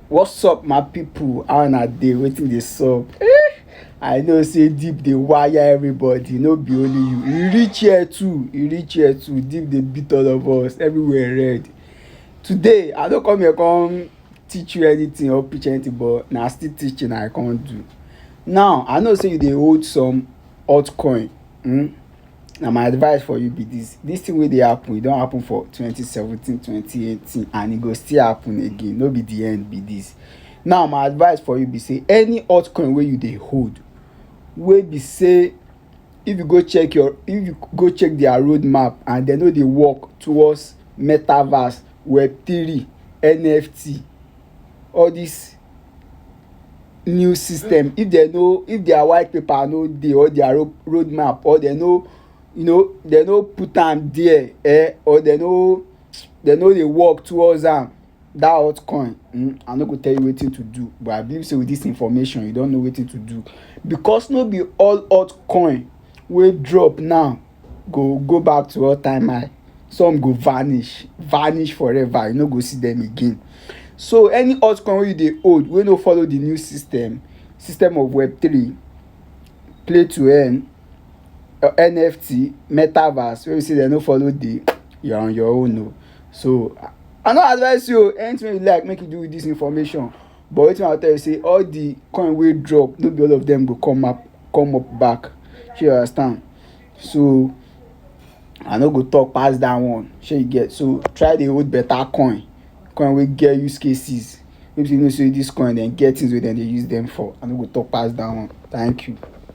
what's up my people how una dey wetin dey sup eh i know say deep dey wire everybody no be only you e reach here too e reach here too deep dey beat all of us everywhere red today i no come here come teach you anything or preach anything but na still teaching i come do now i know say you dey hold some altcoin hmm na my advice for you be this this thing wey dey happen e don happen for twenty seventeen twenty eighteen and e go still happen again no be the end be this now my advice for you be say any altcoin wey you dey hold wey be say if you go check your if you go check their road map and they no dey work towards metaverse web three NFT all this new system if they no if their white paper no dey or their road road map or they no you know they no put am there eh or they no they no dey work towards am that altcoin um i no go tell you wetin to do but i believe say with this information you don know wetin to do because no be all altcoin wey drop now go go back to all time high some go vanish vanish forever you no go see them again so any altcoin wey you dey hold wey no follow the new system system of web three play to earn NFT metaverse wey be sey dem no follow dey you are on your own oo so I no advice you oo anything wey you like make you do with this information but wetin I go tell you be sey all the coin wey drop no be all of them go come up come up back. Shey you understand? So I no go talk pass that one. Shey you get? So try dey hold better coin, coin wey get use cases. Make you know sey this coin dem get things wey dem dey use dem for. I no go talk pass that one. Thank you.